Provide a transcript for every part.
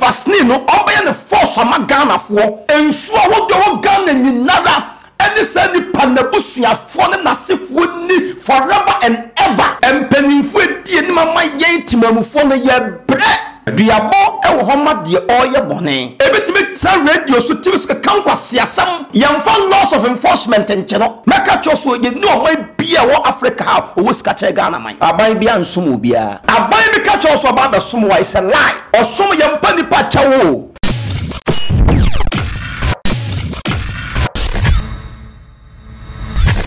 Vaseline no ɔmbɛyɛ no force ama Ghana foɔ. Nsuo ahodoɔ wɔ Ghana nyinara ɛne saa nipa nabusuafoɔ ne nasefoɔ nni forever and ever. Mpaninfoɔ ɛdi anim ama yɛn timamufoɔ no yɛbrɛ. Duabɔ wɔ hɔ ma deɛ ɔɔyɛ bɔne. Ɛbɛtumi tra radio so TV so keka nkwaseasɛm. Yɛnfa laws of enforcement nkyɛ no. Mɛka kyerɛ wo sɛ yɛnni ɔman biaa ɛwɔ Africa ha a ɔwɔ sika kyɛn Ghana man. Aban biaa nsom obiaa. Aban bɛka kyerɛ wo sɛ ɔba abɛsom wo a it's a lie. Ɔsom yɛ mpa nipa kyɛw o.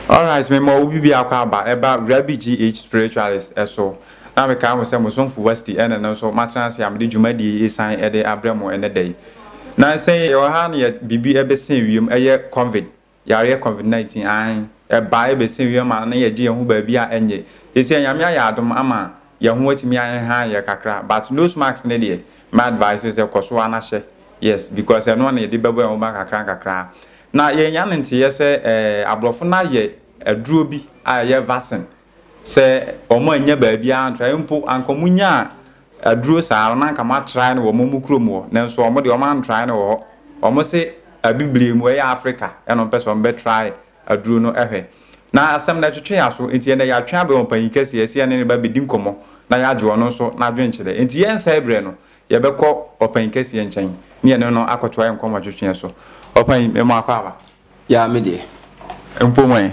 Alright, me ma obi biako aba ɛba Rabi GH Spiritualist ɛso. Na me kaa mo sɛ mo somfo Wasti ɛna no nso matena ase a mede dwumadie yi san ɛde abrɛ mo ɛnɛ da yi. Na nsɛn yɛwɔ ha na yɛ bibi ɛbɛsɛn wiem ɛyɛ Covid Yareɛ covid 19 aane ɛbaa ɛbɛsee wiem a na yɛgye yɛn ho baabi a ɛnyɛ seisei Nyame ayɛ adom ama yɛn ho atumi ahehan yɛn kakra but nose mask no deɛ mɛ advice wo sɛ kɔso ara na hyɛ yes because ɛno na yɛde bɛbɔ yɛn ho ban kakra nkakra na yɛn nya no nteeɛ sɛ ɛɛ abrɔfo no ayɛ aduro bi a ɛyɛ vaccine Sɛ wɔannya baabiara antrae mpo, anka wɔnyaa aduro saa no, na anka wɔatrae no wɔ wɔn mo kurom hɔ. Nanso wɔn deɛ, wɔantrae no wɔ hɔ. Wɔn se Abibirem, ɛyɛ Afrika na wɔpɛ sɛ wɔbɛtrae aduro no hwɛ. Na asɛm no ɛtwetwe aso, enti ɛnnɛ yɛatwe abɛn ɔpanyin kɛseɛ, ɛsɛ yɛne no ba bɛdi nkɔmmɔ, na yɛagye ɔno nso n'adwenkyerɛ. Enti yɛnsɛe berɛ no, yɛbɛkɔ ɔpanyin kɛseɛ nkyɛn, ne yɛne no akɔtoa yɛn nkɔmmɔtwetweɛ so. Ɔpanyin, me mmoa kɔ aba. Yaa me deɛ. Mpo wɛn?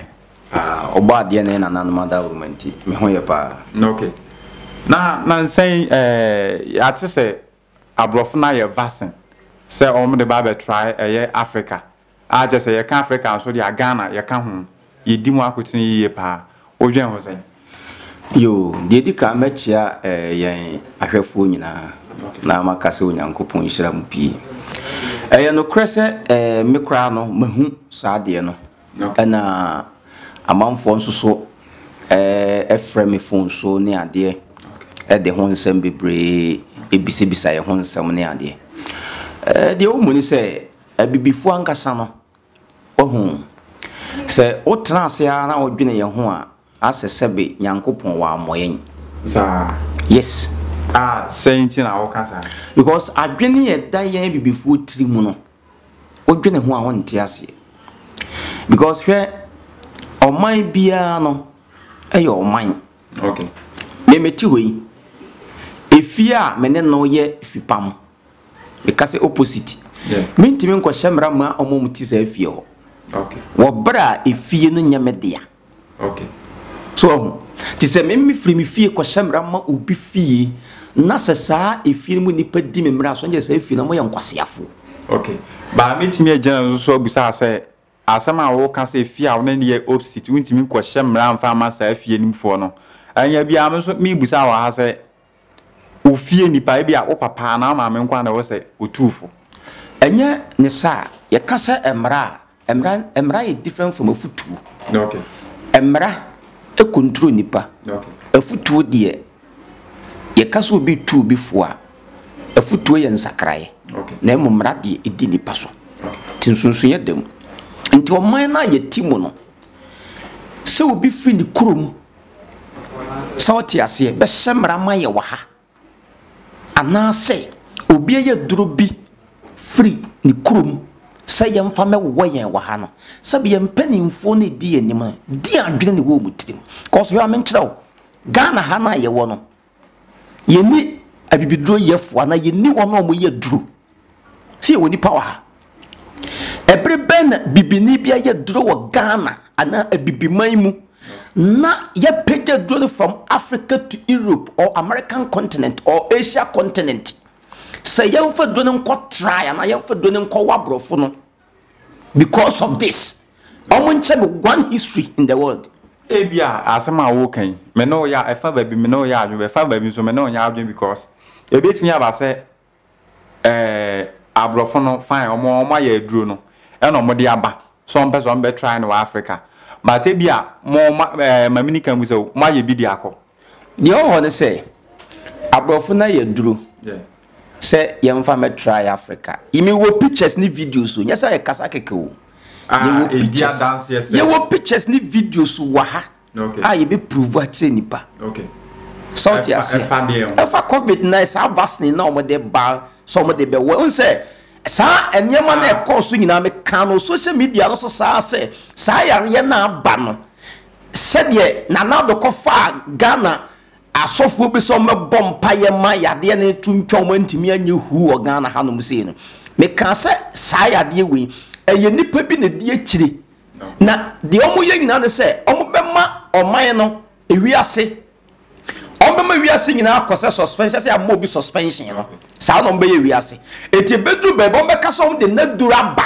Ah, ɔbɔ adeɛ na yɛn nananom adaworoma nti, me ho yɛ paa. Na okay. Na nansa yi eh, yɛate sɛ aborɔfo no ayɛ vaccine sɛ wɔn de ba abɛtrae ɛyɛ Africa. A kyerɛ sɛ yɛka Africa nso deɛ a Ghana yɛka ho. Yɛdi mu akotene yiye paa. Wodwen ho sɛn? Yoo, deɛ ɛdi kan mɛkyea yɛn ahwɛfoɔ nyinaa na maka sɛ Onyankopɔn nhyira mo pii. Ɛyɛ nokorɛ sɛ me koraa no mahu saa adeɛ no ɛna amanfoɔ nso so frɛ me fon so ne adeɛ ɛde ho nsɛm bebree bisabisa yɛn ho nsɛm ne adeɛ. Deɛ wɔmmu ne sɛ abibifoɔ ankasa no Wahu? Sɛ wotena ase ara na wodwene yɛn ho a, asɛ sɛbe Nyankopɔn wammɔ yɛn. Saa? Yes. A, sɛn nti na woka saa? Because adwene a ɛda yɛn abibifoɔ tiri mu no, wodwene ho a wonte aseɛ. Because hwɛ, ɔman biara no yɛ ɔman. Okay. Me mete hɔ yi, efie a me ne no yɛ fipam. Meka sɛ opposite. Mentumi nkɔhyɛ mmara mma wɔn a wɔte saa fie hɔ. Wɔ bere a efie no nyɛ me dea. So wahu? Te sɛ me mefiri me fie kɔhyɛ mmara mma obi fie na sɛ saa efie no mu nnipa di me mmara so, ɛnyɛ saa efie no wɔyɛ nkwaseafo. Okay. Baa metumi agyina no so abusa sɛ asɛm a wɔka sɛ fie a wɔn ne yɛ opposite, wontumi nkɔhyɛ mmara mfa mma saa fie no mu foɔ no. Ɛnyɛ biara me nso mebusa wɔ ha sɛ ofie nipa ebi a wo papa anaa wo maame nko na ɛwɔ sɛ otu fo. Ɛnyɛ ne saa. Yɛka sɛ mmara a, mmara mmara yɛ different from afutuo. Okay. Mmara ɛkontro nipa. Okay. Afutuo deɛ yɛka sɛ obi tu obi fo a afutuo yɛ nsakraeɛ. Okay. Na mmom mmara deɛ ɛdi nipa so. Okay. Nti nsonsoeɛ da mu. Nti ɔman no a yɛte mu no sɛ obi firi ne kurom Sɛ wo te aseɛ, bɛhyɛ mmara ma yɛ wɔ ha. Anaasɛ obi ɛyɛ aduro bi firi ne kurom sɛ yɛn fa mɛ wowɔ yɛn wɔ ha no. Sɛbi yɛn mpaninfoɔ na ɛdi yɛn anim a, deɛn adwene na ɛwɔ wɔn tirim? Cause hwɛ ma menkyerɛ wo, Ghana ha no a yɛwɔ no, Yɛnni abibiduro yɛfoɔ anaa yɛnni wɔn a wɔyɛ aduro. Sɛ yɛwɔ nnipa wɔ ha. Ɛbere bɛn na bibini bi ayɛ aduro wɔ Ghana anaa abibiman mu na yɛapagya aduro no from Africa to Europe or American continent or Asia continent. Sɛ yɛmfa aduro no nkɔ trae anaa yɛmfa aduro no nkɔwɔ aborɔfo no, Because of this, wɔn nkyɛ me one history in the world. Ebi a asɛm a wɔreka yi, me ne wo yɛ ɛfa baabi me ne wo yɛ adwene, ɛfa baabi nso me ne wo nyɛ adwene because ebetumi aba sɛ ɛɛ aborɔfo no fine wɔn wɔn ayɛ aduro no ɛna wɔn de aba so wɔn pɛ sɛ wɔn bɛ try no wɔ Africa but ebi a mo ma ɛɛ mamini kan mu sɛ mo ayɛ bi de akɔ. Deɛ ɔwɔ hɔ ne sɛ, aborɔfo no ayɛ duru sɛ yɛmfa mɛtra yɛ Africa. Yɛwɔ pictures ne videos o, nyɛ sɛ yɛkasa kɛkɛ o. Ah, yɛwɔ eh, pictures, yɛwɔ pictures ne videos wɔ ha okay. a yɛbɛprove akyerɛ nnipa okay. sɛ wote aseɛ ɛfa covid na saa vaccine na wɔde ba sɛ wɔde bɛwɔ wo sɛ saa nneɛma no ɛkɔɔ so nyinaa meka no social media no so saa sɛ saa yareɛ no aba no Sɛdeɛ Nana Addo kɔfaa Ghana asɔfoɔ bi sɛ wɔmmɛbɔ mpaeɛ ma yadeɛ no to ntwa wɔn antumi anyɛ huu wɔ Ghana hanom sei no, mekaa sɛ saa yadeɛ wei, ɛyɛ nnipa bi na ɛdi akyire, na deɛ wɔyɛ nyinaa ne sɛ wɔbɛma ɔman no, wiase, Wɔbɛma wiase nyinaa akɔ sɛ suspension sɛ ama obi suspension no. Saa na wɔbɛyɛ wiase. Eti ebeduru baabi wɔbɛka sɛ wɔde n'aduro aba.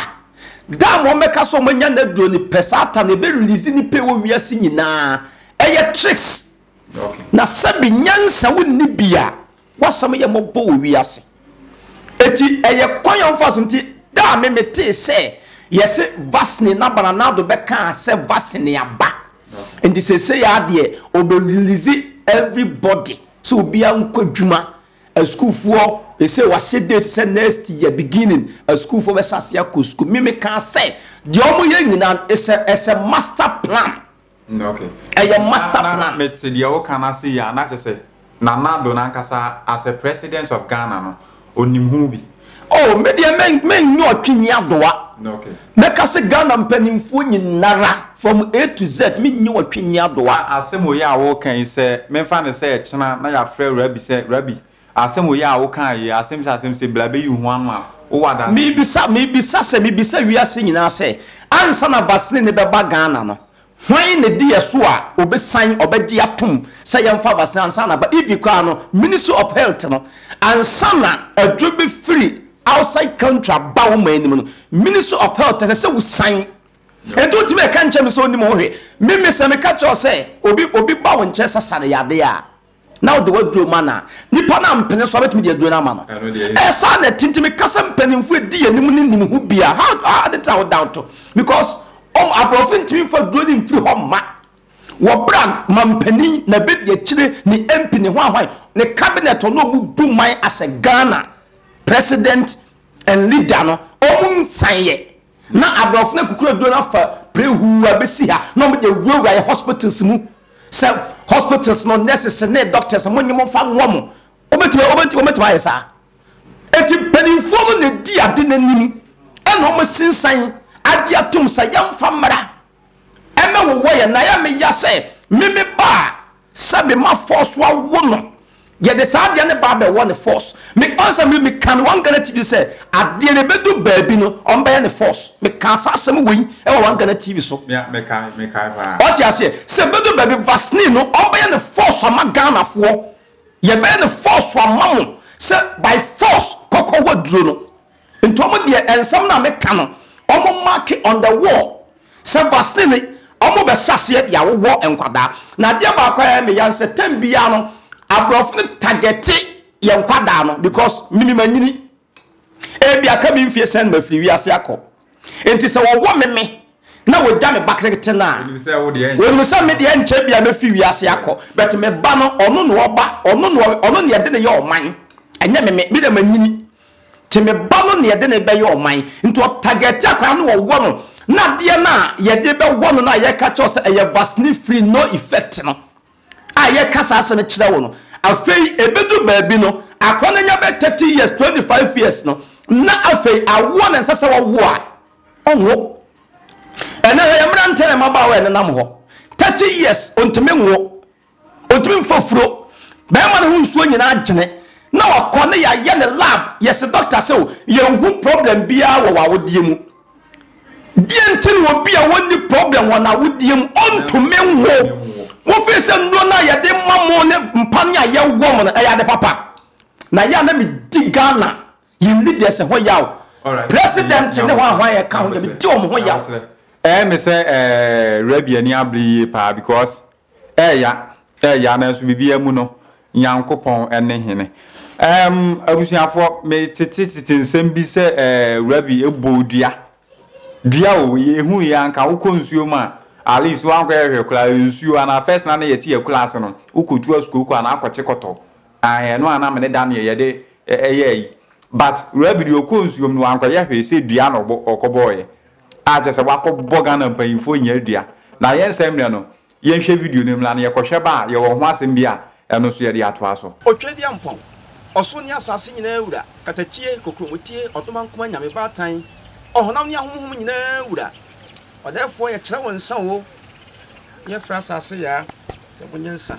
Dam wɔbɛka sɛ wɔanya n'aduro no pɛ saa tam no ebe release ne pɛ wɔ wiase nyinaa. Ɛyɛ tricks. Na sɛbi nyansa wonni bi a W'asɛm yɛ mmɔbɔ wɔ wiase. Enti ɛyɛ kwan a wɔfa so nti da a me metee sɛ yɛse vaccine na bananado bɛkaa sɛ vaccine aba nti sesei ara deɛ ɔbɛ release every body sɛ obiara nkɔ adwuma asukuufoɔ sesei wahyɛ date sɛ next year beginning asukuufoɔ bɛhyɛ aseɛ akɔ sukuu me mekaa sɛ deɛ wɔyɛ nyinaa no is a, is a master plan. Mm okay. Ɛyɛ master plan. Na na me te deɛ woka no ase yie a na kyɛ sɛ Nana Addo no ankasa as a president of Ghana no onim ho bi. Oh me deɛ me me nyɛ ɔtwini adoa. Okay. Me ka se Ghana mpanimfoɔ nyinara from A to Z me nyɛ ɔtwini adoa. Na asɛm wei a woka yi sɛ menfa no sɛ ɛkyena na yɛafrɛ Rabi sɛ Rabi Asem wei a wo kaa yi, asem se asem se, bla beyi wo ho ano a, wo wɔ adanse bɛn? Mebisa, mebisa sɛ, mebisa wiase nyinaa sɛ, ansa na vaccine no bɛba Ghana no, hwan na edi yɛ so a obesan, ɔbɛgye atom sɛ yɛmfa vaccine ansa na aba? Even koraa no, Ministry of Health no, ansa na aduro befiri outside country aba wo man no mu no, Ministry of Health ɛsɛ sɛ wosan. Enti wontumi ɛka nkyerɛ me sɛ onim ho hwee. Me, me sɛ meka kyerɛ wo sɛ, obi, obi ba wo nkyɛn sɛ sane yadeɛ a, na ɔde waduro ma na nipa no ampene so abɛtumi de aduro no ama no ɛsaa na ɛtinti meka sɛ mpanimfoɔ ɛdi yɛn anim ne nim ho bia ade ta wo doubt because ɔm aborɔfo ntumi mfa duro no mfiri hɔ mma wɔbra mampanin na bɛdi akyire ne mp ne hwanhwan ne cabinet ɔno ɔmu bu man asɛ ghana president and leader no ɔmu nsanyɛ Na aborɔfo no akukuru aduro no afa prehuu abɛsi ha na wɔde awurawura yɛ hospitals mu sɛ hospitals no nurses ne doctors mo nye mo mfa nwɔ mo wobɛtumi wobɛtumi ayɛ saa ɛti mpanimfoɔ no na ɛdi ade no anim ɛna wɔn sinsan agye atom sɛ yɛmfa mmara ɛna wowɔ yɛ na yɛ me ya sɛ me me ba a sɛ me ma force wa wo no yɛ de saa adeɛ ne ba bɛ wɔ ne force me ɔn sɛ me me ka no wɔn gana tv sɛ adeɛ ne bɛ du baabi no ɔn bɛyɛ ne force me ka saa asɛm wɔ yi ɛwɔ wɔn gana tv so ɔte aseɛ sɛ bɛ du baabi vaseline no ɔn bɛyɛ ne force ama Ghana foɔ yɛ bɛyɛ ne force ama mo sɛ by force kɔkɔ wɔ duro no. Nti ɔmo deɛ ɛnsɛm no a me ka no ɔmo make on the wall sɛ vaseline ɔmo bɛ hyɛ aseɛ de awowɔ nkwadaa na adeɛ baako a ɛyɛ me ya nsɛ tɛm biara no abrɔfo no tagɛte yɛ nkwadaa no because minim anyini ebi aka mi nfie sɛn ma firi wiase akɔ nti sɛ wɔwɔ me me na wɔgya me ba ketekete no a wɔnim sɛ me deɛ nkyɛ bi a mɛfiri wiase akɔ but me ba no ɔno na ɔba ɔno na ɔno na yɛde ne yɛ ɔman ɛnyɛ me me me deɛ manyini Nti me ba no na yɛde no bɛyɛ ɔman. Nti ɔtagɛte akwadaa no wɔwɔ no na adeɛ no a yɛde bɛwɔ no no a yɛka kyerɛ wo sɛ ɛyɛ vaccine free no effect no a yɛka saa asɛm no kyerɛ wo no afei ɛbɛdu baabi no akwadaa no anya bɛ 30 years 25 years no na afei awoɔ na ɛnsɛ sɛ wɔwo a ɔnwo ɛnɛ hwɛ yɛ mmerantɛ na mmabaawa ɛnenam hɔ 30 years ɔntumi nwo ɔntumi mfa furo bɛrima no ho nsuo nyinaa agyene na wakɔ ne yɛayɛ ne lab yɛse dɔkta sɛ o yɛnhu problem biara wɔ w'awodeɛ mu deɛ nti no obi a wɔnni problem wɔ n'awodeɛ mu ɔntumi nwo wofei sɛ nnuro no a yɛde ma mo ne mpa ne a yɛwɔ mo no ɛyɛ ade papa na yɛ a na medi ghana yɛn leaders ho yaw president ne ho ahoa yɛ ka ho yɛ medi wɔn ho yaw ɛyɛ me sɛ rabi ani abere yie paa because Ɛɛya, ɛɛya nanso biribiara mu no, Nyankopɔn ne Hene. Ɛɛm, abusuafoɔ, me tete tete nsɛm bi sɛ ɛɛ, Rabi eboo dua. Dua o, yɛhu yɛ anka wokɔ nsuo mu a, at least wankɔ yɛ hwɛ koraa nsuo anaa first na ne yɛte yɛ kura ase no, wokɔ tu asukuu kɔ anaa akɔ kye kɔtɔ. Ae, ɛno anaa me ne da neɛ yɛde ɛyɛ ayi. But Rabi deɛ ɔkɔ nsuo mu no wankɔ yɛ hwɛ sɛ dua na ɔbɔ, ɔkɔ bɔɔ yɛ. a kyerɛ sɛ wakɔ bɔ Ghana mpanyinfoɔ nyaa dua na yɛn nsa mmerɛ no yɛnhwɛ video no mmra na yɛkɔ hwɛ ba a yɛwɔ ho asɛm bi a ɛno nso yɛde atoa so. Otwadiampɔn, ɔsoro ne asaase nyinaa wura, katakyie, kokuromotie, ɔdomankoma, nyame baatan, ɔhonam ne ahonhom nyinaa wura, ɔdɛɛfoɔ yɛkyerɛ wo nsa o, ne yɛfrɛ asaase yaa sɛ monyɛ nsa.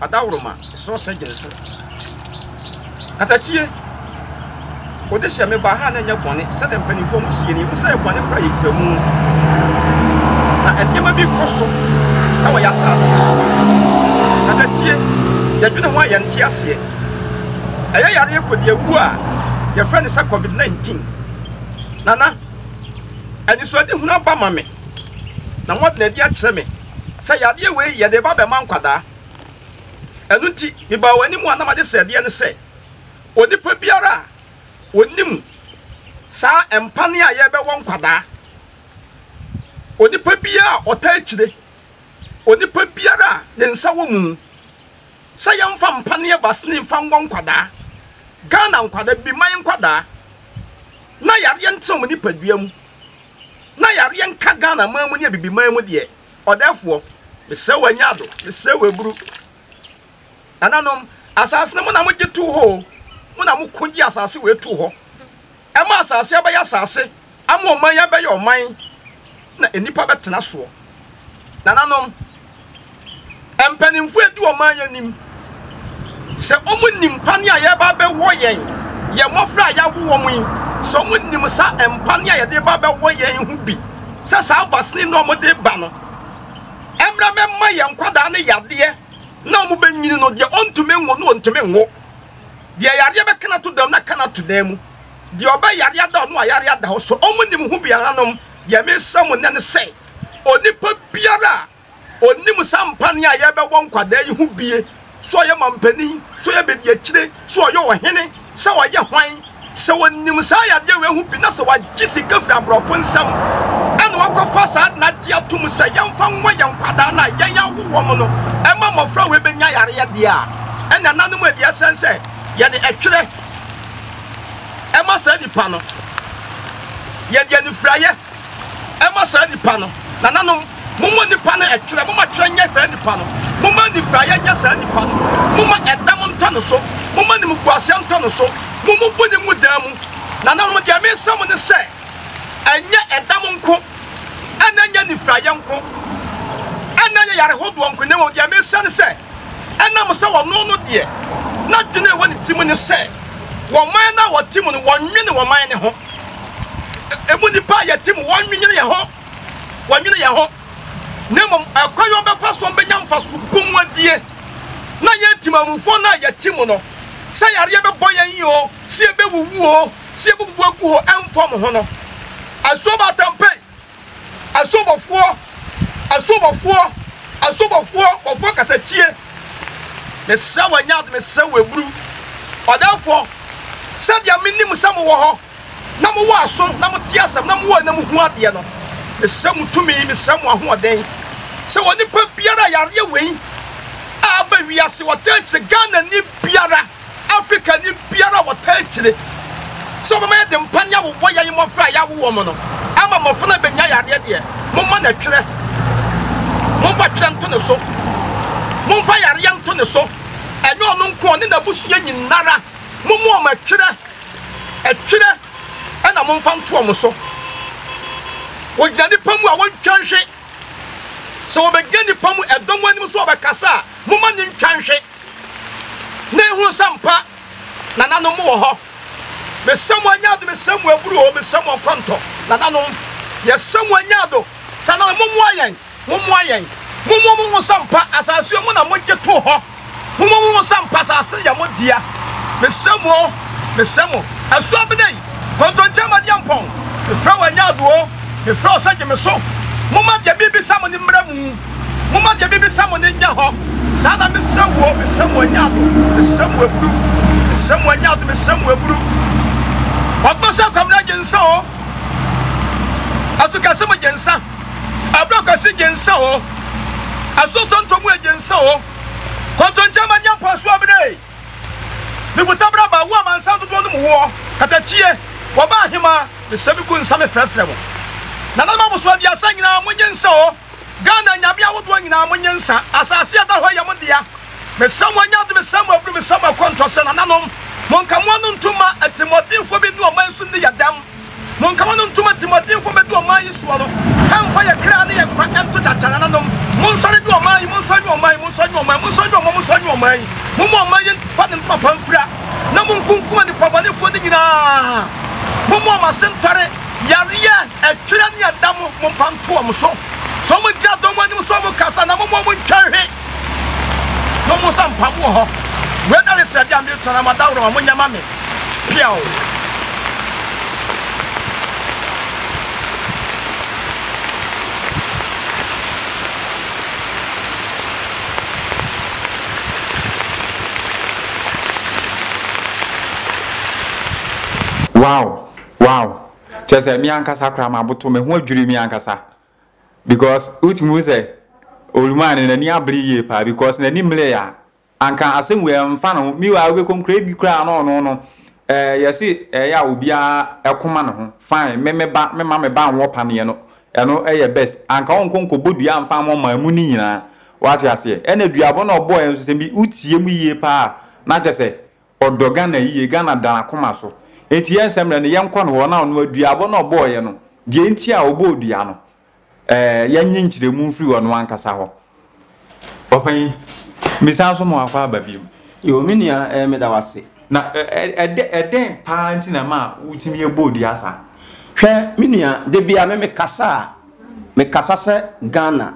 Adaworoma, esrɛ ɔsɛ dwen so. Katakyie, ode hyɛ me ba ha na ɛnyɛ bɔne sɛdeɛ mpanimfoɔ mo sie no, yɛhu sɛ bɔne kora yɛ kura mu na nneɛma bi kɔ so wɔ yɛ asase so. Katakyie, yɛdwene ho a yɛnte aseɛ. Ɛyɛ yareɛ kɔdi awuo a yɛfrɛ no sɛ COVID-19. Nana, anisoadehunu aba ma me na moada no adi akyerɛ me. sɛ yadeɛ wei yɛde reba abɛma nkwadaa. Ɛno nti, mebaa wɔn anim a na made sradeɛ no sɛ, Onipa biara a ɔnim saa mpane a yɛrebɛwɔ nkwadaa, onipa biara a ɔtaa akyire, onipa biara a ne nsa wɔ mu sɛ yɛmfa mpaneɛ basene mfa nwɔ nkwadaa, Ghana nkwadaa, Biman nkwadaa, na yadeɛ no tena wɔn nipadua mu. na yareɛ nka Ghana man mu ne Abibiman mu deɛ, ɔdɛɛfoɔ, mesrɛ wo anya ado, mesrɛ wo aburu. Nananom, asase no mo na mogye too hɔ o, mo na mo ko gye asase wei too hɔ. Ɛma asase abɛyɛ asase, ama ɔman abɛyɛ ɔman, na nnipa bɛtena soɔ. Nananom, Mpanimfoɔ adi ɔman yi anim sɛ wɔn nim pane a yɛba bɛwɔ yɛn yɛn mmɔfra a yɛawo wɔn yi sɛ wɔn nim sa mpane a yɛde ba bɛwɔ yɛn ho bi sɛ saa vasini na wɔn de ba no ɛmra mɛma yɛn nkwadaa ne yadeɛ na wɔn bɛnyini no deɛ ɔntumi nwo no ɔntumi nwo deɛ yadeɛ bɛka no ato dam na ka no ato dan mu deɛ ɔbɛ yadeɛ ada ɔno a yadeɛ ada hɔ so wɔn nim ho biara nom deɛ mesɛ mo nɛ ne sɛ onipa biara a ɔnim saa mpaneɛ a yɛbɛwɔ nkwadaa yi ho bie, sɛ ɔyɛ mampanin, sɛ ɔyɛ badiakyire, sɛ ɔyɛ ɔhene, sɛ ɔyɛ hwan, sɛ ɔnim saa yadeɛ wei ho bi na sɛ wagye sika firi aborɔfo nsam ɛna wakɔfa saa de no agye atom sɛ yɛmfa nwɔ yɛn nkwadaa no a yɛn awo wɔm no ɛma mmɔfra wei bɛnya yareɛ deɛ a ɛna nanom a ɛdeɛ sɛn sɛ yɛde ɛtwerɛ ɛma saa nipa no yɛde anifiraeɛ Ɛmma saa nipa no. Nananom, momma nipa no ɛtwerɛ, momma twerɛ nyɛ saa nipa no, momma anifiraeɛ nyɛ saa nipa no, momma ɛdam ntɔ ne so, momma animguaseɛ ntɔ ne so, mommubu ne ngu dan mu. Nananom, deɛ meresrɛ mo ne sɛ, ɛnyɛ ɛdam nko, ɛna ɛnyɛ anifiraeɛ nko, ɛna ɛnyɛ yare hodoɔ nko, na mmom deɛ meresrɛ ne sɛ, Ɛnam sɛ ɔno no deɛ n'adwene a ɛwɔ ne tirim ne sɛ ɔman no a ɔte mu no wɔnnwene ɔman no ho, emu nnipa a yɛte mu wɔnnwene yɛn ho, wɔnnwene yɛn ho, na mmom ɛkwan a wɔbɛfa so bɛnya mfaso bɔ mu adie, na yɛn temamufoɔ no a yɛte mu no, sɛ yareɛ bɛbɔ yɛn o, sɛ yɛbɛwuwu o, sɛ yɛbɛbubu agu hɔ ɛmfa wɔn ho no. Asuo Baatampɛ. Asubɔfoɔ, asubɔfoɔ, asubɔfoɔ, bɔfoɔ katakyie, mesrɛ wo Nyad, mesrɛ wo Eburu, ɔdɛɛfoɔ, sɛdeɛ menim sɛ mowɔ hɔ, na mowɔ aso, na mote asɛm, na mowɔ na mohu adeɛ no, mesrɛ mo tumi, mesrɛ mo ahoɔden, sɛ onipa biara a yareɛ wei a aba wiase, ɔtaa akyire Ghanani biara, Afrikani biara a wɔtaa kyire sɛ ɔbɛma yɛde mpa ne awo bɔ yɛn mmɔfra a yɛawo wɔn no ama mmɔfra no abɛnya yareɛ deɛ, momma no twerɛ. Momfa twerɛ nto ne so. Momfa yareɛ nto ne so. Ɛnyɛ ɔno nko, ɔne n'abusua nyinara. Momma wɔn atwerɛ. Ɛtwerɛ na momfa nto wɔn so. Wɔgyina nnipa mu a wɔntwa nhwe. Sɛ wɔbɛgyina nnipa mu ɛdɔm anim so wɔbɛkasa a, momma no ntwa nhwe. na ehu sɛ ampa nananom wɔ hɔ. Mesɛ mo anya ado, mesɛ mo aburu o, mesɛ mo nkɔntɔ nananom. Yɛsɛ mo anya ado, saa nananom mommoa yɛn, mommoa yɛn. Mommoa mo ho sɛ ampa asase yi mo na mogye too hɔ. Mommoa mo ho sɛ ampa asase no yɛ mo dea. Mesɛ mo o, mesɛ mo. Asu Abena yi. Kontonkye amadeɛ mpɔn Mefrɛ wo ɛnyɛ adoɔ Mefrɛ wo sɛ gye me so Momma deɛ merebisa mo no mmra mu Momma deɛ merebisa mo no nyɛ hɔ Saa na mesrɛ wo o Mesrɛ mo ɛnyɛ ado Mesrɛ mo aburu Mesrɛ mo ɛnyɛ ado Mesrɛ mo aburu Ɔbɔ sɛ kwamena gye nsa o Aso kɛse mo gye nsa Abura kwasi gye nsa o Aso tonto mu e gye nsa o Kontonkye amadeɛ mpɔn Aso amena e. Mekuta bra ba wo amansan dodoɔ no mu woɔ, katakyie, wɔba ahemaa, mesɛ me gu nsa me frɛfrɛ mo. Nananom abosoɔ aduasa nyinaa mo nye nsa o, Ghana nyame ahodoɔ nyinaa mo nye nsa, asase a ɛda hɔ yi yɛ mo dea, mesɛ mo anya ade mesɛ mo aburu mesɛ mo akɔntɔ sɛ nananom, mo nkamoa no ntu mma atirimuɔdenfoɔ bi ne ɔman so nni yɛ dɛm. Monka wɔn ntom atirimuɔdenfoɔ mmɛdu ɔman yi soɔ no, ɛmfa yɛn kra ne yɛn nkwa nto gyagyanananom. Monsɔre nyi ɔman yi, monsɔre nyi ɔman yi, monsɔre nyi ɔman yi, monsɔre nyi ɔman, monsɔre nyi ɔman yi. Momma ɔman yi mfa ne ntoma pa mfira, na monkunkum anipabɔnefoɔ no nyina ara. Momma wɔn ase ntɔre, yareɛ, ɛtwerɛ ne ɛda mo, momfa nto wɔn so. Sɛ wɔgyina dɔm anim sɛ wɔrekasa no a, momma wɔntwa nhwe. No mo nsa mpam wɔ hɔ. Wei na ne srɛdeɛ a me retɔ na mo adaworo ma mo nyɛ ma me. Piaw. Wow wow kyerɛ sɛ me ankasa koraa maboto me ho adwiri me ankasa. Because wotumi hu sɛ Olumaa no n'ani abere yie paa because n'ani mmeree a anka asɛm wei ɛmfa ne ho. Meanwhile wobɛkɔm koraa bi koraa na ɔno no ɛɛ eh, yɛse ɛyɛ a obiara ɛkoma ne ho fine me me ba me ma me ba nwɔ paneɛ no ɛno ɛyɛ best anka ɔnkɔ nkɔbɔ dua mfa ama ɔma ɛmu no nyinaa wate aseɛ ɛna duabɔ na ɔbɔɔ yɛn nso sɛ bi wotie mu yie paa na kyɛ sɛ Ɔdɔ Ghana yie, Ghana da n'akoma so. Enti yɛn sɛ mmerɛ no, yɛnkɔ ne hɔ na ɔno aduabɔ no a ɔbɔeɛ no, deɛ nti a ɔbɔɔ dua no, eh, yɛnnye nkyerɛmu mfiri ɔno ankasa hɔ. Ɔpanyin, mesan so ma wakɔ aba bio. Yoo, me nua, eh, meda wase. Na ɛdɛ, ɛdɛn paa nti na ɛma wotumi ɛbɔɔ dua saa? Hwɛ, me nua, da bia me mekasa a, mekasa sɛ Ghana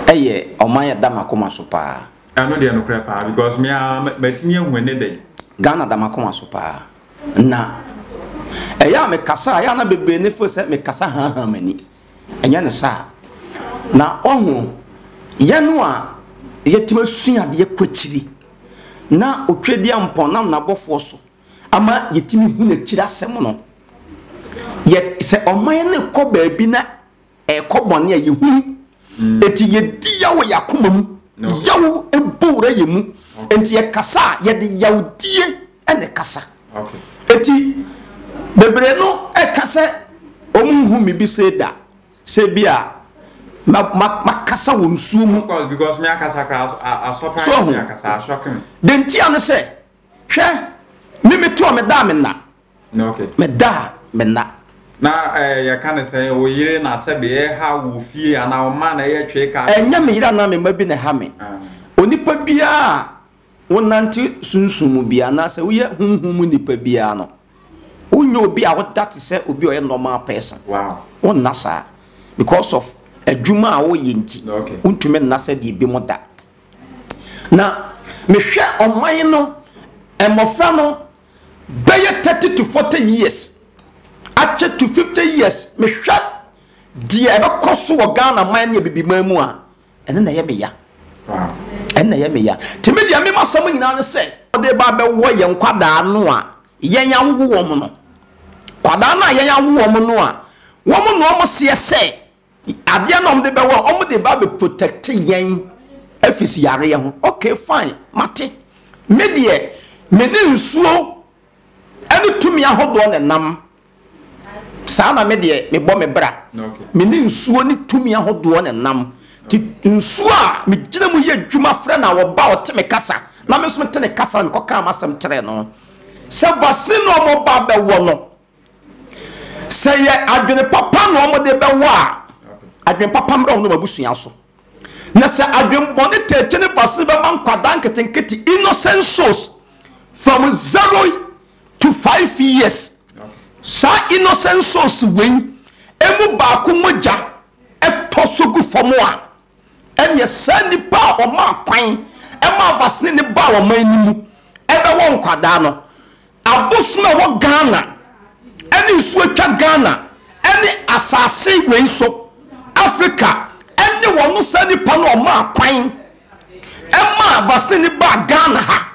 ɛyɛ ɔman a ɛda m'akoma so paa. Ɛno deɛ nokorɛ paa because me ara matumi ahu ɛne dɛn. Ghana da m'akoma so paa. Na ɛyɛ a me kasa a ɛyɛ a na bebree ne feel sɛ me kasa haahaa m'ani. Ɛnyɛ ne saa. Na wahu yɛn a yɛtumi asua adeɛ kɔ akyiri na Otwedeampɔn nam n'abɔfoɔ so ama yɛtumi hu n'akyiri asɛm no. Yɛ sɛ ɔman no rekɔ baabi na Ɛkɔ bɔne a yɛhunu. Enti yɛdi yaw yɛ akoma mu. Yaw bɔ wura yɛ mu. Enti yɛkasa a, yɛde yawdie na ɛkasa. Enti bebree no ɛka sɛ wɔn nhu me bi sei da. Sɛ bi a makasa wɔ nsuo mu. So ho? Deɛ ntia ne sɛ, hwɛ, me metoo me da a menna. Meda a me nna. Na eh, yɛka ne sɛn, wo yere na sɛbe ɛha wo fie anaa wo mma na ɛyɛ twee kaa. Ɛnyɛ me yere anaa me mma bi na ɛha me. Onipa biara a wonante sunsum mu biara anaasɛ woyɛ honhom mu nipa biara no, wonyɛ obi a woda te sɛ obi a ɔyɛ normal person. Wonna saa. Because of adwuma a woyɛ nti, wontumi nna sɛdeɛ ebinom da. Na mehwɛ ɔman no, mmɔfra no, bɛyɛ thirty to forty years akyɛ to fifty years mehwɛ deɛ ɛbɛkɔ so wɔ ghana man ne abibiman mu a ɛno na ɛyɛ meya ɛno na ɛyɛ meya te me deɛ mema asɛm nyinaa ne sɛ ɔde ba bɛwɔ yɛn kwadaa no a yɛn awowo wɔn no kwadaa no a yɛn awo wɔn no a wɔn na wɔn seɛ sɛ Adeɛ na wɔde bɛwɔ a wɔde ba bɛ protect yɛn afis yareɛ ho ok fine mate me deɛ me ne nsuo ɛne tumi ahodoɔ na ɛnam saa na me deɛ me bɔ me bra me ne nsuo ne tumi ahodoɔ na ɛnam ti nsuo a me gyina mu yɛ adwuma frɛ na wɔba ɔte me kasa na me nso te ne kasa na mekɔ kaa masɛm kyerɛ no sɛ vaccine na wɔba bɛwɔ no Sɛ yɛ adwene papa na wɔn de bɛwɔ a, adwene papa mmra wɔn abusua so. Na sɛ adwene bɔne tete ne basene bɛma nkwadaa nketenkete innocent souls from zero to five years. Saa innocent souls wei emu baako mogya ɛtɔ so gu fam a ɛnneɛ saa nnipa a wɔmaa kwan ma abasene no baa ɔman no mu bɛwɔ nkwadaa no, abosom a ɛwɔ Ghana ne nsuo atwa Ghana ne asase wei so, Africa ne wɔn saa nnipa no a wɔmaa kwan ma abasene no baa Ghana ha.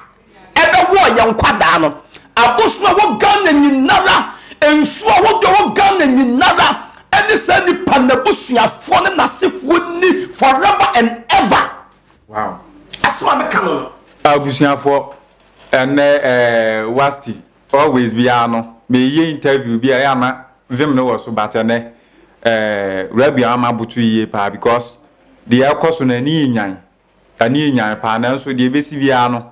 ɛbɛwɔ yɛn nkwadaa no abosom a wɔ ghana nyinara nsuo a wɔdɔ wɔ ghana nyinara ɛne saa nipa n'abusuafoɔ ne n'asefoɔ ni forever and ever wow asɛm a meka no no abusuafoɔ ɛnɛ ɛɛ wasti always biara no meyɛ interview bi a ɛyɛ ana vim no wɔ so but ɛnɛ ɛɛ rabia ama boto yie paa because deɛ ɛkɔ so no ani nyan Ɛno yɛ nyan paa nanso deɛ ɛbɛsi biara no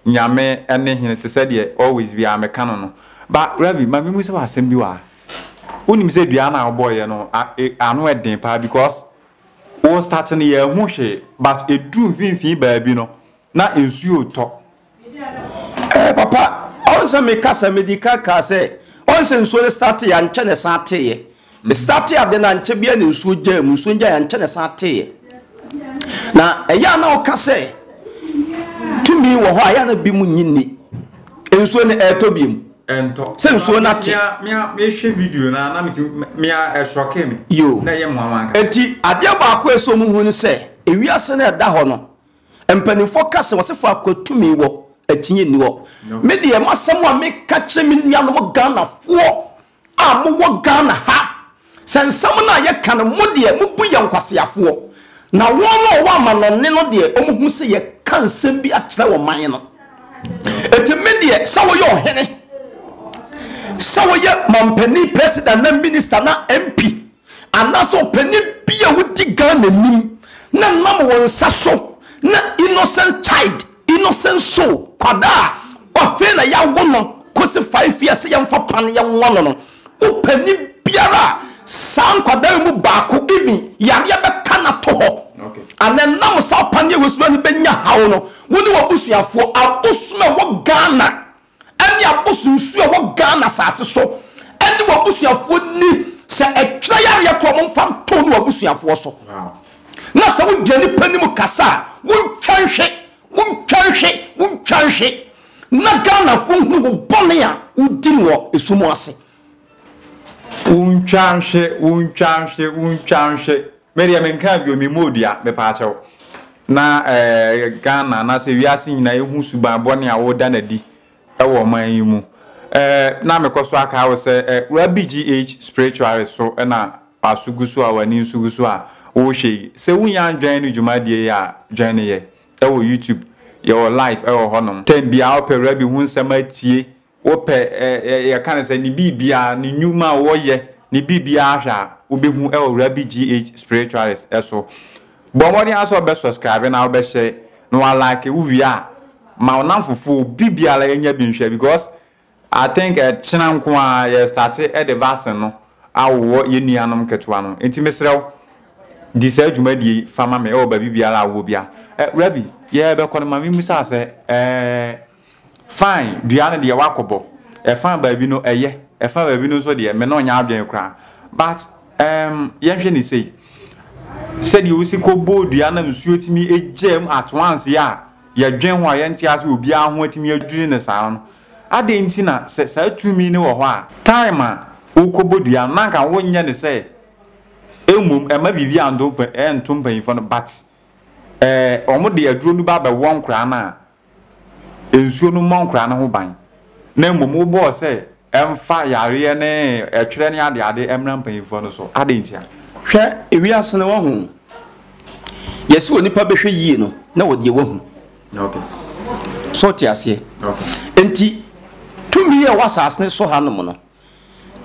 Nyame ne hene te sɛ deɛ always biara meka no no ba Ravi ma memu sɛ wɔ asɛm bi wɔ ha wonim sɛ dua no a wobɔɔyɛ no e, ano ɛden paa because wo start no yɛahu hwee but ɛduru mfimfini baabi no na nsuo tɔ Ɛɛ eh, papa ɔn sɛ meka sɛ medi kan kaa sɛ ɔn sɛ nsuo no starte yɛ ankyɛ ne san teeɛ mhm. starte ade no ankyɛ bia ne nsuo gyaa mu nsuo gyaa ankyɛ ne san teeɛ na ɛyɛ a na woka sɛ tumi wɔ hɔ a yɛ na bi mu nyi nni nsuo no ɛɛtɔ bi mu ɛntɔ sɛ nsuo no ate mehwɛ video no na mea ɛsɔke me yo na ɛyɛ mmoawa nka enti adeɛ baako ɛsɛ mu hu no sɛ ewiase no ɛda hɔ no Mpanimfoɔ ka sɛ wɔse faako a tumi wɔ akyinnye nni hɔ. Me deɛ m'asɛm a meka kyerɛ me nuanom Ghanafoɔ a mowɔ Ghana ha, sɛ nsɛm no a yɛka no mo deɛ mobu yɛn nkwaseafoɔ, na wɔn a wɔwɔ amanɔne no deɛ wɔhu sɛ yɛka nsɛm bi akyerɛ ɔman no. Enti me deɛ sɛ woyɛ ɔhene, sɛ woyɛ mampanin, president anaa minister anaa MP, Anaasɛ ɔpani bi a wodi Ghana nim na nam wo nsa so na innocent child, innocent soul, kwadaa a ɔfei na yɛawo no kosi five years sɛ yɛmfa pan yɛnwa no no, wopani biara a saa nkwadaa yi mu baako even yareɛ bɛka no ato hɔ anaa ɛnam saa ɔpaneɛ wei so na ɔno bɛnya haw no, wo ne w'abusuafoɔ, abosom a ɛwɔ Ghana, ɛne aboso nsuo a ɛwɔ Ghana asase so ɛne w'abusuafoɔ nni sɛ ɛtwerɛ yareɛ korɔ mo mfa nto ne w'abusuafoɔ so na sɛ wogyina nipa no mu kasa a wontwa nhwe wontwa nhwe wontwa nhwe na Ghanafoɔ nhunu wo bɔne a wodi no wɔ esum ase wontwa nhwe wontwa nhwe wontwa nhwe Me deɛ menkaa bio, me mmɔɔ dua, mepaa kyɛw. Na eh, Ghana anaasɛ wiase nyinaa ɛhu suban bɔne a woda no adi wɔ ɔman yi mu. Eh, na mekɔ so akaa wo sɛ, eh, wura BGH Spiritualist so na w'aso gu so a w'ani nso gu so a wohwɛ yi. Sɛ wonnya ndwɛn ne dwumadie yi a, dwɛn ne yɛ wɔ YouTube. Yɛwɔ live wɔ hɔnom. Time biara wopɛ wura bi ho nsɛm atie. Wopɛ ɛ ɛ yɛka no sɛ ne biribiara, ne nnwuma a wɔyɛ, ne biribiara hwɛ a, wobɛhu wɔ Rabi GH Spiritualist so. Bɔ mmɔden ara sɛ wobɛ subscribe na wobɛ share na wa like, wo wie a ma wo namfofo, obi biara ɛnyɛ bi nhwɛ because I think ɛkyena nko ara yɛ starte de vaccine no awowɔ yɛn nuanom nketewa no. Nti mesrɛ wo di saa dwumadie yi fa ma me wɔ baabi biara a wowɔ biara. Ɛ Rabi, yɛrebɛkɔ no ma me mmusa wo sɛ ɛɛ, Fine, dua no deɛ woakɔbɔ, ɛfã baabi no ɛyɛ, ɛfã baabi no nso deɛ me ne wo nyɛ adwene koraa. But um yɛnhwɛ no sei, sɛdeɛ wosi kɔbɔɔ dua na nsuo tumi gyaa mu at once a yɛdwen ho a yɛnte ase obiara ho atumi adwiri no saa no, adɛn nti na sɛ saa tumi no wɔ hɔ a, time a wokɔbɔ dua no na anka wonyɛ no sɛ mmom ɛmma biribi a nto mpanyinfoɔ no but eh, wɔn de aduro no ba bɛwɔ nkoraa no a, nsuo no mmɔ nkwadaa no ho ban na mmom wobɔɔ sɛ ɛmfa yareɛ ne ɛtwerɛ ne adeade mmra mpanyinfoɔ no so adɛn ntia? Hwɛ ewiase no wahu yɛsɛ onipa bɛhwɛ yie no na wɔ deɛ wahu so te aseɛ nti tumi yɛ wɔ asase no so ha nom no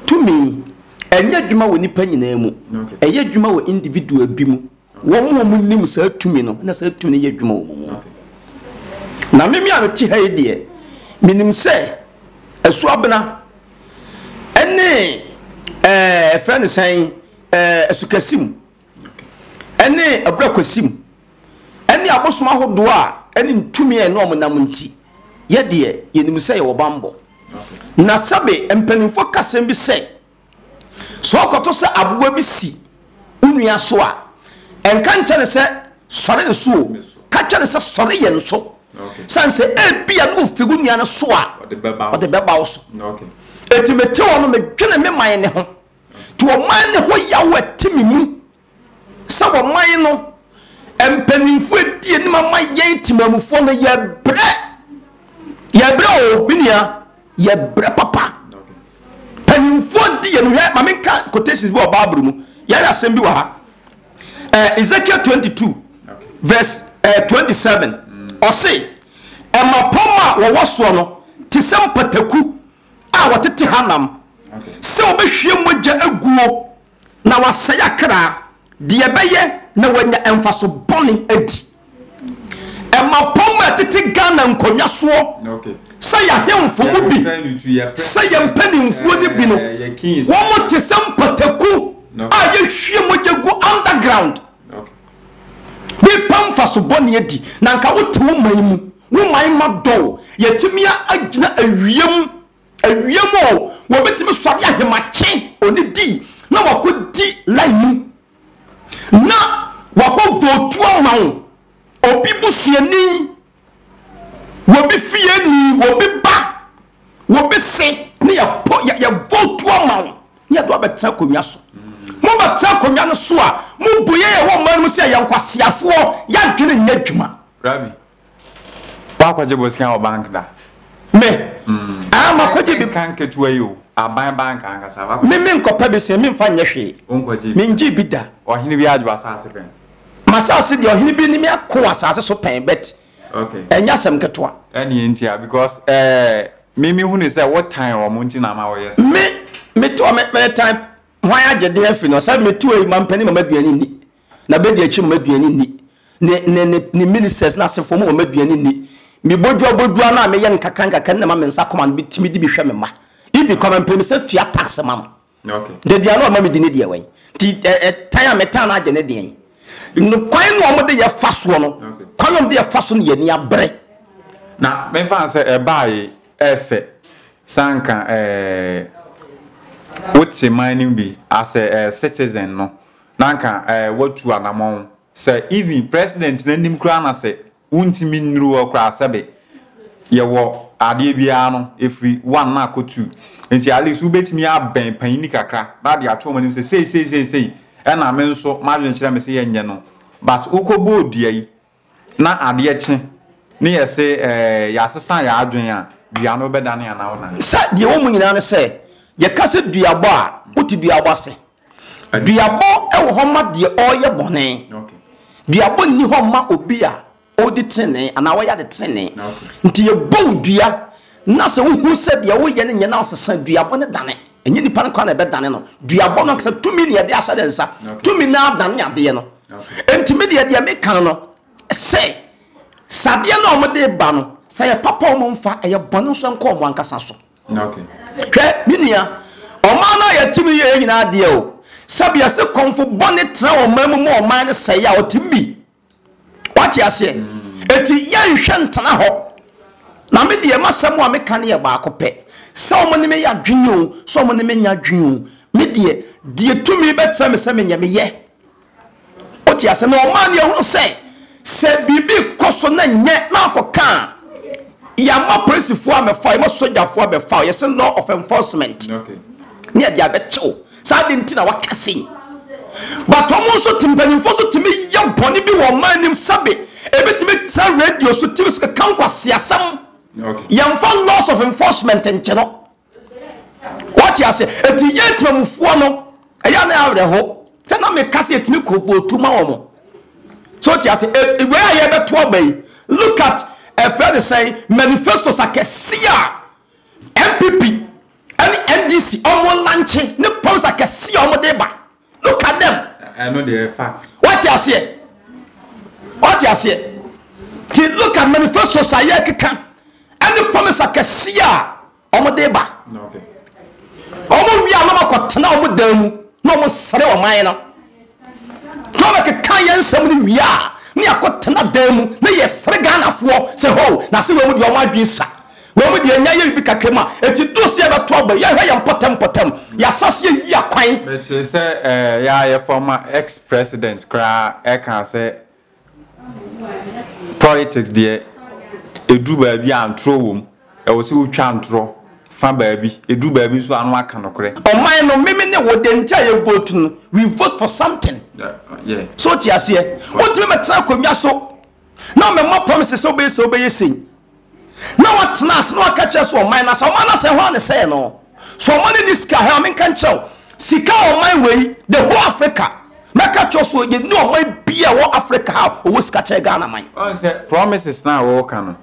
tumi ɛnyɛ adwuma wɔ nipa nyinaa mu ɛyɛ adwuma wɔ individual bi mu Wɔn a wɔnim saa tumi no na saa tumi no yɛ adwuma wɔ wɔn mu. Na meme a mete ha yi deɛ, menim sɛ asuabena ne ɛɛ fɛ ne sɛn ɛɛ asukasim ne aburakwasim ne abosom ahodoɔ a ɛne ntumi a ɛne wɔn nam nti yɛdeɛ yɛnim sɛ yɛwɔ bambɔ. Na sɛbe mpanimfoɔ kasɛm bi sɛ. Sɛ ɔkɔto sɛ aboa bi si wo nua so a, nka nkyɛ no sɛ, Sɔre nso o. Ka kyɛ no sɛ, Sɔre yɛ nso. San sɛ ebia na ofi wo nua no so a, ɔde bɛba wo so. Enti mete hɔ no, medwene me man no ho. Nti ɔman no ho yaw a ɛte me mu sɛ ɔman no mpanyimfo edi anim ama yɛn temamufoɔ no yɛbrɛ yɛbrɛ o me nua yɛbrɛ papa mpanyimfoɔ di yɛn hwɛ maame nka quotations bi wɔ baabulu mu yɛayɛ asɛm bi wɔ ha ɛɛ eh, ezekiel twenty two verse ɛɛ eh, twenty seven mm. ɔse ɛma pɔm a wɔwɔ soɔ no te sɛ mpataku a wɔtete hanam sɛ wɔbɛhwie mogya aguo Na wɔasɛe akra. Deɛ ɛbɛyɛ na wɔanya mfaso bɔne adi. Mmapɔmma a ɛtete Ghana nkonnwa soɔ sɛ yɛn ahemfo mu bi, sɛ yɛn mpanimfoɔ no bi no, wɔte sɛ mpataku a yɛhwie mogya gu underground. Nnipa mfaso bɔne adi. Na anka wote wo man mu, wo man ma dɔw. Yɛatumi agyina awia mu. Awia mu oo, wɔbɛtumi sɔre ahemakye onidi na wakɔ di line mu na wakɔ votu ama wo. Obi busuani, obi fieni, obi ba, obi se ne yɛ pɔ yɛ yɛ votu ama wo ne yɛde wabɛtena akonnwa so. Mo bɛtena akonnwa no so a, mo bu yɛ yɛ wɔ mmaa no mu sɛ yɛ nkwaseafoɔ, yɛ adwene nyɛ adwuma. Rabi. wakɔgye bosea wɔ bank da me aa hmm. makɔgye bi kan ketewa yi o aban bank ankasa wakɔ me me nkɔpɛ bi sɛ memfa nyɛ hwee mengye bi da ɔhene bi adwo asase pɛn masase deɛ ɔhene bi ne me ako asase so pɛn bet ɛnyɛ asɛm ketewa ɛne ntia because eh, me mehu ne sɛ wotan wɔn nti na ama wɔyɛ sɛ me meto metan hwan agyede afi no sɛ meto ayi mampani mama aduane nni na bedi akyi ma aduan nni, ne ne ne ne ministers na asefo mu ma aduan nni. Me bodua bodua no a meyɛ nkakra nkakra na ma me nsa kɔma no bi tumi di bi hwɛ me mma. Even kɔma mpanyinsa tua tax ma no. Okay. Daduan no ɔma me di ne deɛ wɛn. Ti ɛtan a metan no agye ne deɛ. No kwan na wɔn de yɛ fa soɔ no. Kwan wɔn de yɛ fa so no yɛ ni abere. Na mefa sɛ ɛbaa yi ɛfɛ sanka ɛɛ wote man no bi as a citizen no na anka eh watu anamɔn sɛ even president no anim koraa na sɛ wontumi nnuru hɔ koraa sɛbe yɛwɔ adeɛ biara no ɛfiri one na akɔ two nti at least wobɛtumi abɛn panyini kakra na ade ato wɔn anim sɛ sei sei sei sei ɛna me nso m'adwenkyerɛ me sɛ yɛnyɛ no but wokɔbɔɔ dua yi Na adeɛ kye, ne yɛse ɛɛ yɛasesa yɛn adwene a, dua no bɛdane anaa wonane? Sɛ deɛ ɛwɔ mu nyinaa ne sɛ, yɛka sɛ duabɔ a, wote duabɔ ase? Duabɔ wɔ hɔ ma deɛ ɔreyɛ bɔne. Duabɔ nni hɔ mma obi a ɔredi tenenee anaa ɔreyɛ ade tenenee. Nti yɛbɔ wo dua na sɛ wohu sɛ deɛ woreyɛ no nyɛ na wosesa duabɔ no dane. Ɛnyɛ nipa no koraa na ɛbɛdane no. Duabɔ no ankasa tumi na yɛde ahyɛ ne nsa. Tumi no ara dane adeɛ no. Enti me deɛ deɛ meka no sɛ sɛ adeɛ no a wɔde ba no sɛ yɛ papa a wɔmfa ɛyɛ bɔne nso nkɔ wɔn ankasa so hwɛ me nua ɔman no a yɛte no yɛ nyinaa deɛ o sɛbea se kɔmfo bɔne tena ɔman mu ma ɔman no sɛe a ɔtem bi wate aseɛ enti yɛnhwɛ ntena hɔ na me deɛ masɛm a meka no yɛ baako pɛ sɛ wɔn ne me yɛ adwene o sɛ wɔn ne me nya adwene o me deɛ deɛ tumi bɛkyerɛ me sɛ menyɛ meyɛ Wote ase na ɔmaa ne ɛhunu sɛ sɛ biribi kɔ so na nyɛ na akɔka a yɛama polisifoɔ amɛfa yɛma sogyafoɔ abɛfa yɛsɛ law of enforcement ne yɛde abɛkyɛw saa de nti na waka sei but ɔmo nso te mpanimfoɔ nso tumi yɛ bɔne bi wɔ ɔman anim sɛbe ebitumi tra radio so tv so keka nkwaseasɛm yɛmfa laws of enforcement nkyɛ no wɔte ase ɛti yɛ temamufoɔ no ɛyɛ ne awerɛho sɛ na meka sɛ ɛtumi kɔbɔtu ma wɔ mo so wɔte ase wei a yɛbɛto aba yi look at ɛfrɛ ne sɛn manifestos akɛse a mpp ɛne ndc ɔmo lankye ne pɔms akɛse a ɔmo de ba look at them ɛno deɛ fact wate aseɛ wate aseɛ ti look at manifestos a yɛkeka ɛne promise akɛseɛ a wɔn de ba wɔn wia na wɔn akɔtena wɔn dan mu na wɔn sere wɔn man no na wɔn keka yɛn nsɛm no wia ne akɔtena dan mu na yɛ sere ghanafoɔ sɛ ho na se wɔn mu deɛ wɔn adwene sa Mmom deɛ yɛanya yɛ biribi kakra mu a enti duru sɛ yɛbɛto aba yi, yɛnhwɛ yɛn mpɔtam mpɔtam, yɛasa sɛ yɛyi akwan. Mete sɛ yɛ a yɛ former ex president koraa ɛkaa sɛ politics deɛ ɛduru baabi a ntorɔ wɔ mu, ɛwɔ sɛ wotwa ntorɔ fa baabi, ɛduru baabi nso a na waka nokorɛ. Ɔman no, me me ne wo, deɛ nti a yɛ vote no, we vote for something. So wote aseɛ? Wontumi mmɛtena akonnwa so na womɛmmɔ promises sɛ wobɛyɛ sei wobɛyɛ sei. na watena ase na waka kyerɛ sɛ ɔman no asɛ ɔman no asɛ hɔ a ne sɛe no so ɔman no ni sika hɛ menka nkyerɛ wo sika ɔman wei the whole Africa mɛka kyerɛ so yɛ ni ɔman bi a ɛwɔ Africa ha ɔwɔ sika kyɛ Ghana man. Ɔn sɛ promises na wɔka no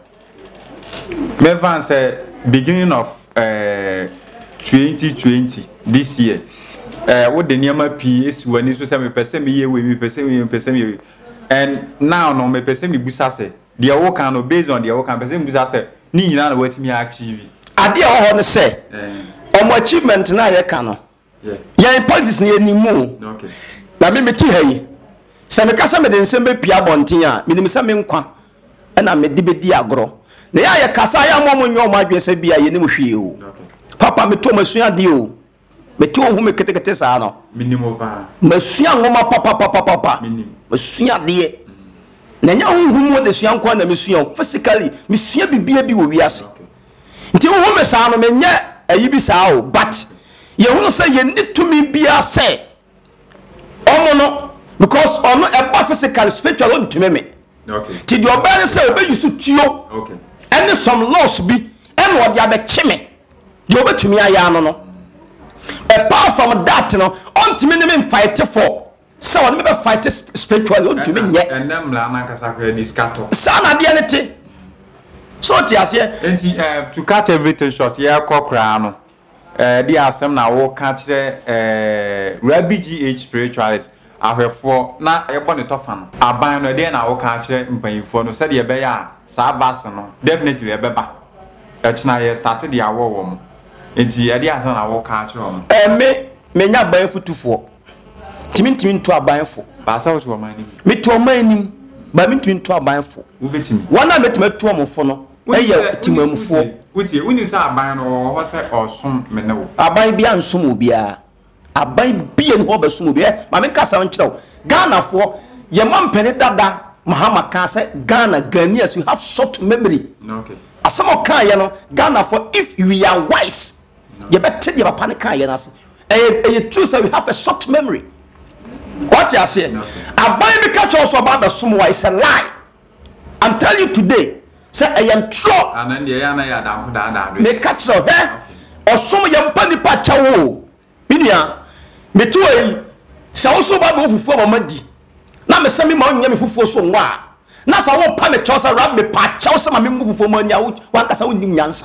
mɛfa sɛ beginning of eh, 2020 this year eh, wode nneɛma pii esi w'ani so sɛ mepɛ sɛ meyɛ wei mepɛ sɛ meyɛ mepɛ sɛ meyɛ wei and now no mepɛ sɛ mebusa sɛ Deɛ wo ka no based on deɛ wo ka no pɛ sɛ mbu sa sɛ ne nyinaa na watumi a achieve. Adeɛ a ɛwɔ hɔ no sɛ wɔn achievement no a yɛ ka no yɛn politics no yɛ nim mu na me me te ha yi sɛ me ka sɛ me de nsɛm bɛ pie abɔnten a me nim sɛ me nkwa ɛna me de bɛ di agorɔ na yɛ a yɛ kasa yɛ a mo a mo nyɛ wɔn adwene sɛ bi a yɛ nim hwee o papa me to mo asua adeɛ o. Mete wo ho me ketekete saa no. Menim wo paa. Masua nwoma papapapapa. Menim. Masua adeɛ. Na ɛnyɛ honhom mu adesua nko na mesua o, physically mesua bibia bi wɔ wiase. Nti wohu me saa no menyɛ ayi bi saa o, but yɛhunu sɛ yɛnni tumi biara sɛ ɔmo no because ɔno ɛba physical spiritual ɔntumi me ti deɛ ɔbɛyɛ ne sɛ ɔbɛyi so tuo ɛne some laws bi ɛna ɔde abɛkye me deɛ ɔbɛtumi ayɛ ano no apart from that no ɔntumi ne me mfaete fɔ sɛ ɔne me bɛ fight spiritual ɔntumi nyɛ ɛnɛ mmara no ankasa kora de sika tɔ saa na adeɛ ne te so te aseɛ nti eh, to cut everything short yɛkɔ koraa no Eh deɛ asɛm na wo ka kyerɛ eh Rabi GH spiritualist ahwɛfoɔ na yɛbɔ ne tɔfa no aban no ɛdeɛn na wo ka akyerɛ mpanyinfoɔ no sɛdeɛ ɛbɛyɛ a saa vaccine no definitely ɛbɛba ɛkyena yɛ starte de awɔ wɔn nti ɛdeɛ asɛm na wo ka akyerɛ wɔn. Eh me me nyɛ aban fotufoɔ nti me ntumi nto aban fo. Baasa wo to ɔman anim. Me to ɔman anim but me ntumi nto aban fo. Wo bɛtumi. Wɔn a mɛtumi atu wɔn fo no. yɛ temammufoɔ. Wotie, wonim sɛ aban no ɔwɔ hɔ sɛ ɔresom me ne wo. Aban biara nsom obiara. Aban biara ni hɔ ɔbɛsom obi. Ɛ ma menka asɛm nkyerɛ wo. Ghanafoɔ, yɛn mampanin dada Mahama kaa sɛ Ghana, Ghanaians, you have short memory. Asɛm a ɔkaeɛ no, Ghanafoɔ, if we are wise, yɛbɛte deɛ papa no kaeɛ no ase. Ɛyɛ ɛyɛ true sɛ we have a short memory. Wate aseɛ? Aban bi ka kyerɛ wo sɛ ɔba abɛsom wo a, it's a lie. I'm tell you today sɛ ɛyɛ ntorɔ. Ah na ndeɛ ɛyɛ a na yɛ adanko daadaa do yɛ. Meka kyerɛ wo hɛ ɔsom yɛ mpa nipa kyɛ wo o me nua mete hɔ yi sɛ wo so ba bɛ wo fufuo ma ma di na me sɛ me ma onyɛ me fufuo so nwa a na sɛ wo pa me kyɛw sɛ rab me pa kyɛw sɛ ma me ngu fufuo ma nya wo wankasa wo nim nyansa.